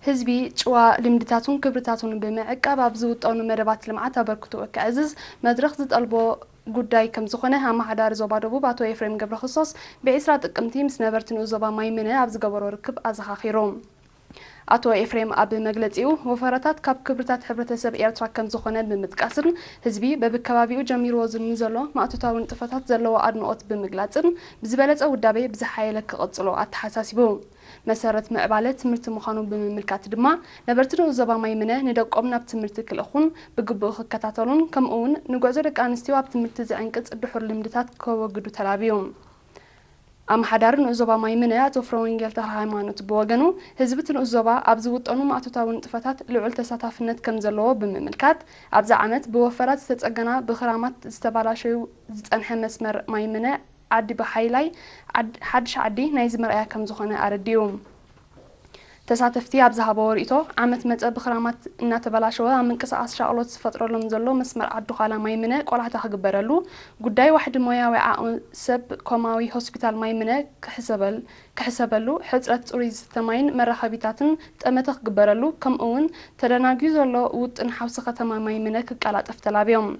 ህዝቢ ጭዋ ልምድታቱን ክብርታቱን ብምዕቃብ ኣብ ዝውጠኑ መደባት ልምዓት ኣበርክትኡ ከዕዝዝ መድረኽ ዝጠልቦ ጉዳይ ከምዝኾነ ኣመሓዳሪ ዞባ ደቡብ ኣቶ ኤፍሬም ገብረክርስቶስ ብ ዕስራ ጥቅምቲ ምስ ነበርቲ ንኡስ ዞባ ማይምነ ኣብ ዝገበሮ ርክብ ኣዘኻኺሩ። ኣቶ ኤፍሬም ኣብ መግለፂኡ፣ ወፈራታት ካብ ክብርታት ሕብረተሰብ ኤርትራ ከምዝኾነ ብምጥቃስን ህዝቢ በብከባቢኡ ጀሚርዎ ንዘሎ ማእቶታዊ ንጥፈታት ዘለዎ ኣድንቖት ብምግላፅን ብዝበለፀ ውዳቤ ብዝሓየለ ክቕፅሎ ኣተሓሳሲቡ። መሰረት ምዕባለ ትምህርቲ ምዃኑ ብምምልካት ድማ፣ ነበርቲ ንኡስ ዞባ ማይምነ ንደቆም ናብ ትምህርቲ ክልእኹን ብግቡእ ክከታተሉን ከምኡ'ውን ንጉዕዞ ደቂ ኣንስትዮ ኣብ ትምህርቲ ዝዕንቅጽ ድሑር ልምድታት ከወግዱ ተላብዩ። ኣመሓዳሪ ንኡስ ዞባ ማይምነ ኣቶ ፍረወንጌል ተኽለሃይማኖት ብወገኑ፣ ህዝቢ እቲ ንኡስ ዞባ ኣብ ዝውጠኑ ማእቶታዊ ንጥፈታት ልዑል ተሳታፍነት ከም ዘለዎ ብምምልካት፣ ኣብዚ ዓመት ብወፈራ ዝተጸገና ብኽራማት ዝተባላሸዩ ዝጸንሐ መስመር ማይምነ ዓዲ ብሓይላይ ሓድሽ ዓዲ ናይዚ መርኣያ ከም ዝኾነ ኣረዲኡ። ተሳተፍቲ ኣብ ዝሃበዎ ሪኢቶ፣ ዓመት መጸ ብኽራማት እናተበላሸወ ኣብ ምንቅስቓስ ሻቕሎት ዝፈጥረሎም ዘሎ መስመር ዓዲ-ዃላ ማይምነ ቆላሕታ ክግበረሉ፣ ጉዳይ ዋሕዲ ሞያዊ ዓቕሚ ሰብ ኮማዊ ሆስፒታል ማይምነ ክሕሰበሉ፣ ሕጽረት ጽሩይ ዝስተ ማይን መራኸቢታትን ጠመተ ክግበረሉ ከምኡ'ውን ተደናጉዩ ዘሎ ውጥን ሓውሲ ከተማ ማይምነ ክቀላጠፍ ተላብዮም።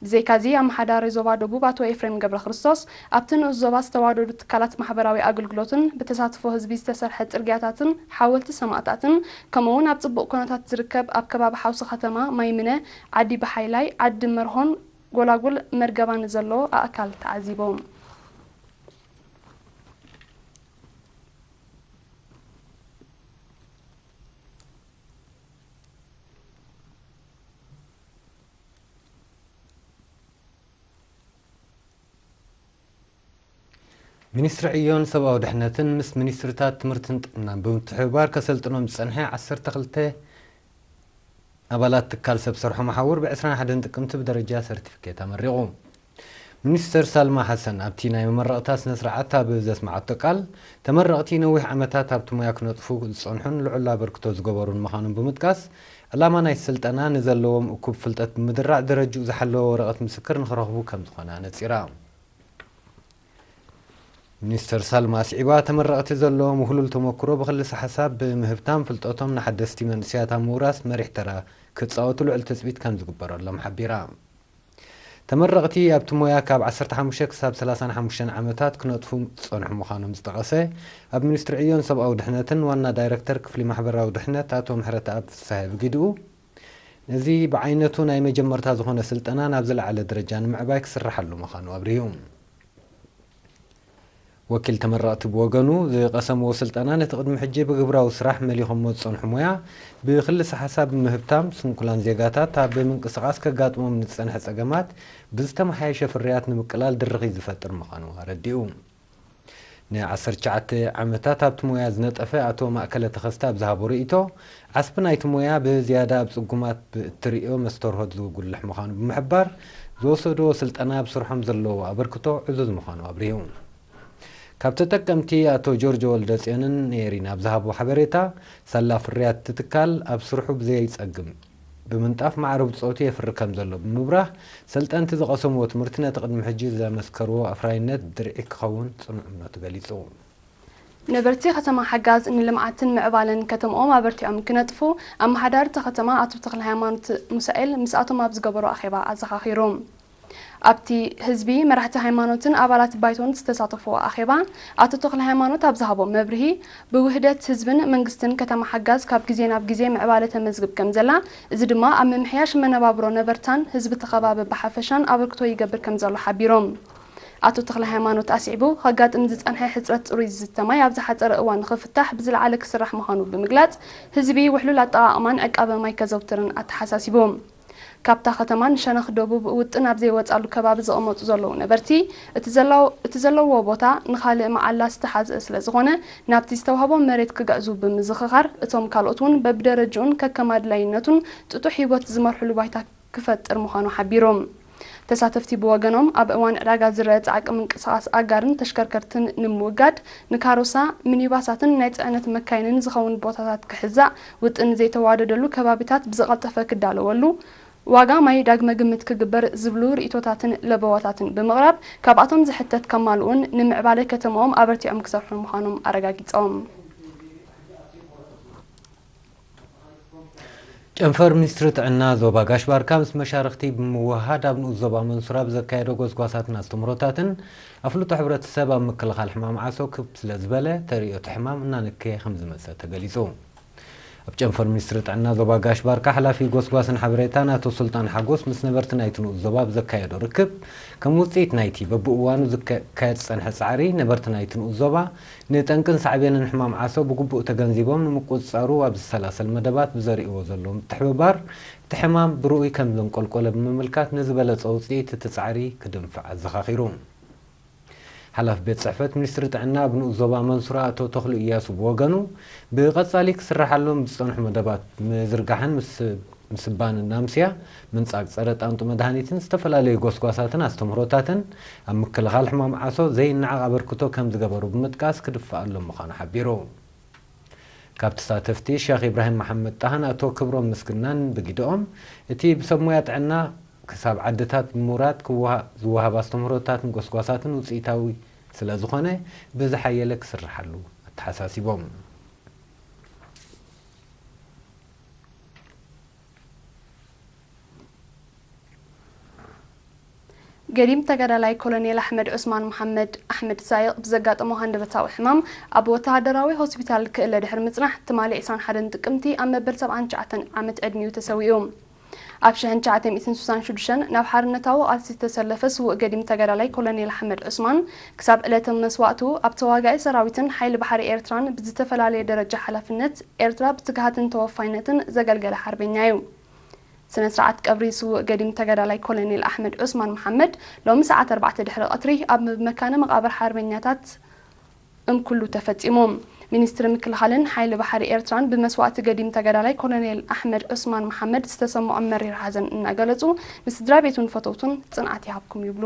ብዘይካ'ዚ ኣመሓዳሪ ዞባ ደቡብ ኣቶ ኤፍሬም ገብረክርስቶስ፣ ኣብቲ ንኡስ ዞባ ዝተዋደዱ ትካላት ማሕበራዊ ኣገልግሎትን ብተሳትፎ ህዝቢ ዝተሰርሐ ጽርግያታትን ሓወልቲ ሰማእታትን ከምኡ'ውን ኣብ ጽቡቕ ኩነታት ዝርከብ ኣብ ከባቢ ሓውሲ ከተማ ማይምነ፣ ዓዲ ብሓይላይ፣ ዓዲ መርሆን ጎላጉል መርገባን ንዘሎ ኣእካል ተዓዚቦም። ሚኒስትሪ ዕዮን ሰብኣዊ ድሕነትን ምስ ሚኒስትሪታት ትምህርትን ጥዕናን ብምትሕብባር ከሰልጥኖም ዝጸንሐ ዓሰርተ ክልተ ኣባላት ትካል ሰብ ሰርሖ መሓውር ብ ዕስራን ሓደን ጥቅምቲ ብደረጃ ሰርቲፊኬት ኣመሪቑ። ሚኒስተር ሳልማ ሓሰን ኣብቲ ናይ መመረቕታ ስነ-ስርዓት ኣብ ዘስመዓቶ ቃል፣ ተመረቕቲ ነዊሕ ዓመታት ኣብቲ ሞያ ክነጥፉ ዝጸንሑን ልዑል ኣበርክቶ ዝገበሩን ምዃኖም ብምጥቃስ፣ ዕላማ ናይቲ ስልጠና ንዘለዎም እኩብ ፍልጠት ብምድራዕ ደረጅኡ ዝሓለወ ወረቐት ምስክር ንኽረኽቡ ከምዝኾነ ኣነጺራ። ሚኒስተር ሳልማ ኣስዒባ፣ ተመረቕቲ ዘለዎም ውህሉል ተመኩሮ ብክልሰ-ሓሳብ ብምህብታም ፍልጠቶም ንሓደስቲ መንእሰያት ኣብ ምውራስ መሪሕ ተራ ክጻወቱ ልዑል ትጽቢት ከምዝግበረሎም ሓቢራ። ተመረቕቲ ኣብቲ ሞያ ካብ ዓሰርተ ሓሙሽተ ክሳብ ሰላሳን ሓሙሽተን ዓመታት ክነጥፉ ዝጸንሑ ምዃኖም ዝጠቐሰ ኣብ ሚኒስትሪ ዕዮን ሰብኣዊ ድሕነትን ዋና ዳይረክተር ክፍሊ ማሕበራዊ ድሕነት ኣቶ ምሕረተኣብ ፍስሃየ ብግዲኡ፣ ነዚ ብዓይነቱ ናይ መጀመርታ ዝኾነ ስልጠና ናብ ዝለዓለ ደረጃ ንምዕባይ ክስርሓሉ ምዃኑ ኣብሪሁ። ወኪል ተመረቕቲ ብወገኑ፣ ዝቐሰምዎ ስልጠናን እቲ ቅድሚ ሕጂ ብግብራዊ ስራሕ መሊኾምዎ ዝጸንሑ ሞያ፣ ብክልሰ-ሓሳብ ብምህብታም፣ ስንኩላን ዜጋታት ኣብ ምንቅስቓስ ከጋጥሞም ንዝጸንሐ ጸገማት ብዝተመሓየሸ ፍርያት ንምቅላል ድርኺት ዝፈጥር ምዃኑ ኣረዲኡ። ንዓሰርተ ትሽዓተ ዓመታት ኣብቲ ሞያ ዝነጠፈ ኣቶ ማእከለ ተኸስተ ኣብ ዝሃቦ ርእይቶ፣ ዓስቢ ናይቲ ሞያ ብዝያዳ ኣብ ጽጉማት ብእትርእዮ መስተርሆት ዝጉልሕ ምዃኑ ብምሕባር፣ ዝወሰድዎ ስልጠና ኣብ ስርሖም ዘለዎ ኣበርክቶ ዕዙዝ ምዃኑ ኣብሪሁ። ካብ ተጠቀምቲ ኣቶ ጆርጆ ወልደጽዮንን ኔሪን ኣብ ዝሃብዎ ሓበሬታ፣ ሳላ ፍርያት እቲ ትካል ኣብ ስርሑ ብዘይጸግም ብምንጣፍ ማዕረ ብጾቱ የፍሪ ከምዘሎ ብምብራህ፣ ሰልጠንቲ ዝቐሰምዎ ትምህርቲ ነቲ ቅድሚ ሕጂ ዘመስከርዎ ኣፍራይነት ድርዒ ክኸውን ጽኑዕ እምነቱ ገሊጹ። ነበርቲ ከተማ ሓጋዝ ንልምዓትን ምዕባለን ከተምኦም ኣበርቲዖም ክነጥፉ ኣመሓዳሪ እታ ከተማ ኣቶ ተክለሃይማኖት ሙሳኤል ምስኣቶም ኣብ ዝገበሮ ኣኼባ ኣዘኻኺሩ። ኣብቲ ህዝቢ፣ መራሕቲ ሃይማኖትን ኣባላት ባይቶን ዝተሳተፍዎ ኣኼባ ኣቶ ተክለሃይማኖት ኣብ ዝሃቦ መብርሂ፣ ብውህደት ህዝብን መንግስትን ከተማ ሓጋዝ ካብ ግዜ ናብ ግዜ ምዕባለ ተመዝግብ ከምዘላ እዚ ድማ ኣብ ምምሕያሽ መነባብሮ ነበርታን ህዝቢ እቲ ከባቢ ብሓፈሻን ኣበርክቶ ይገብር ከምዘሎ ሓቢሩ። ኣቶ ተክለሃይማኖት ኣስዒቡ፣ ከጋጥም ዝጸንሐ ሕጽረት ጽሩይ ዝስተ ማይ ኣብ ዝሓጸረ እዋን ንኽፍታሕ ብዝለዓለ ክስራሕ ምዃኑ ብምግላጽ፣ ህዝቢ ውሕሉል ኣጠቓቕማን ዕቃበ ማይ ከዘውትርን ኣተሓሳሲቡ። ካብታ ከተማ ንሸነኽ ደቡብ ውጥን ኣብ ዘይወጻሉ ከባቢ ዝቕመጡ ዘለዉ ነበርቲ፣ እቲ ዘለዉዎ ቦታ ንኻልእ መዓላ ዝተሓዝአ ስለዝኾነ ናብቲ ዝተዋህቦም መሬት ክግዕዙ ብምዝኽኻር፣ እቶም ካልኦት'ውን በብደረጅኡን ከከም ኣድላይነቱን ጥጡሕ ሂወት ዝመርሑሉ ባይታ ክፈጥር ምዃኑ ሓቢሩ። ተሳተፍቲ ብወገኖም ኣብ እዋን ዕዳጋ ዝረኣ ፃዕቂ ምንቅስቓስ ኣጋርን ተሽከርከርትን ንምውጋድ ንካሮሳ፣ ሚኒባሳትን ናይ ፅዕነት መካይንን ዝኸውን ቦታታት ክሕዛእ ውጥን ዘይተዋደደሉ ከባቢታት ብዝቐልጠፈ ክዳለወሉ፣ ዋጋ ማይ ዳግመ ግምት ክግበር ዝብሉ ርኢቶታትን ለበዋታትን ብምቕራብ ካብኣቶም ዝሕተት ከማልኡን ንምዕባለ ከተማኦም ኣበርቲዖም ክሰርሑን ምዃኖም ኣረጋጊፆም። ጨንፈር ሚኒስትሪ ጥዕና ዞባ ጋሽ ባርካ ምስ መሻርኽቲ ብምውህሃድ ኣብ ንኡስ ዞባ መንሱር ኣብ ዘካየዶ ጎስጓሳትን ኣስተምህሮታትን ኣፍልጦ ሕብረተሰብ ኣብ ምክልኻል ሕማም ዓሶ ክብ ስለዝበለ ተርእዮ እቲ ሕማም እናነከየ ከምዝመፀ ተገሊፁ። ኣብ ጨንፈር ሚኒስትሪ ጥዕና ዞባ ጋሽ ባርካ ሓላፊ ጎስጓስን ሓበሬታን ኣቶ ሱልጣን ሓጎስ ምስ ነበርቲ ናይቲ ንኡስ ዞባ ኣብ ዘካየዶ ርክብ ከም ውፅኢት ናይቲ በብእዋኑ ዝካየድ ዝፀንሐ ፃዕሪ ነበርቲ ናይቲ ንኡስ ዞባ ንጠንቅን ሳዕቤንን ሕማም ዓሶ ብግቡእ ተገንዚቦም ንምቁጽጻሩ ኣብ ዝሰላሰል መደባት ብዘርእይዎ ዘለዉ ምትሕብባር፣ እቲ ሕማም ብርኡይ ከም ዘንቆልቆለ ብምምልካት ንዝበለጸ ውጽኢት እቲ ጻዕሪ ክድንፍዕ ኣዘኻኺሩ። ሓላፊ ቤት ጽሕፈት ሚኒስትሪ ጥዕና ኣብ ንኡስ ዞባ መንሱራ ኣቶ ተኽሉ እያሱ ብወገኑ፣ ብቐጻሊ ክስራሓሎም ዝጸንሑ መደባት ምዝርጋሕን ምስባንን ናምስያ፣ ምንጻግ ጸረ ጣንጡ መድሃኒትን ዝተፈላለዩ ጎስጓሳትን ኣስተምህሮታትን ኣብ ምክልኻል ሕማም ዓሶ ዘይነዓቕ ኣበርክቶ ከም ዝገበሩ ብምጥቃስ ክድፋኣሎም ምዃኑ ሓቢሩ። ካብ ተሳተፍቲ ሸኽ ኢብራሂም መሓመድ ጣሃን ኣቶ ክብሮም ምስግናን ብጊደኦም፣ እቲ ብሰብ ሞያ ጥዕና ክሳብ ዓድታት ብምውራድ ክወሃብ ዝወሃብ ኣስተምህሮታትን ጎስጓሳትን ውጽኢታዊ ስለ ዝኾነ ብዝሓየለ ክስርሓሉ ኣተሓሳሲቦም። ገዲም ተጋዳላይ ኮሎኔል ኣሕመድ ዑስማን መሓመድ፣ ኣሕመድ ሳይቕ፣ ብዘጋጠሞ ሃንደበታዊ ሕማም ኣብ ወተሃደራዊ ሆስፒታል ክእለ ድሕሪ ምጽናሕ ትማሊ ዕስራን ሓደን ጥቅምቲ ኣብ መበል ሰብዓን ትሽዓተን ዓመት ዕድሚኡ ተሰዊኡ። ኣብ ሽሕን ትሽዓተ ሚእትን ስሳን ሹዱሽተን ናብ ሓርነታዊ ቃልሲ ዝተሰለፈ ስዉእ ገዲም ተጋዳላይ ኮሎኔል ኣሕመድ ዑስማን ክሳብ ዕለተ መስዋእቱ ኣብ ተዋጋኢ ሰራዊትን ሓይሊ ባሕሪ ኤርትራን ብዝተፈላለየ ደረጃ ሓላፍነት ኤርትራ ብትግሃትን ተወፋይነትን ዘገልገለ ሓርበኛ እዩ። ስነ ስርዓት ቀብሪ ስዉእ ገዲም ተጋዳላይ ኮለኔል ኣሕመድ ዑስማን መሓመድ ሎሚ ሰዓት ኣርባዕተ ድሕሪ ቐትሪ ኣብ መካነ መቓብር ሓርበኛታት እምኩሉ ተፈጺሙ። ሚኒስትሪ ምክልኻልን ሓይሊ ባሕሪ ኤርትራን ብመስዋእቲ ገዲም ተጋዳላይ ኮለኔል ኣሕመድ ዑስማን መሓመድ ዝተሰመዖም መሪር ሓዘን እናገለጹ ንስድራ ቤቱን ፈተውቱን ጽንዓት ይሃብኩም ይብሉ።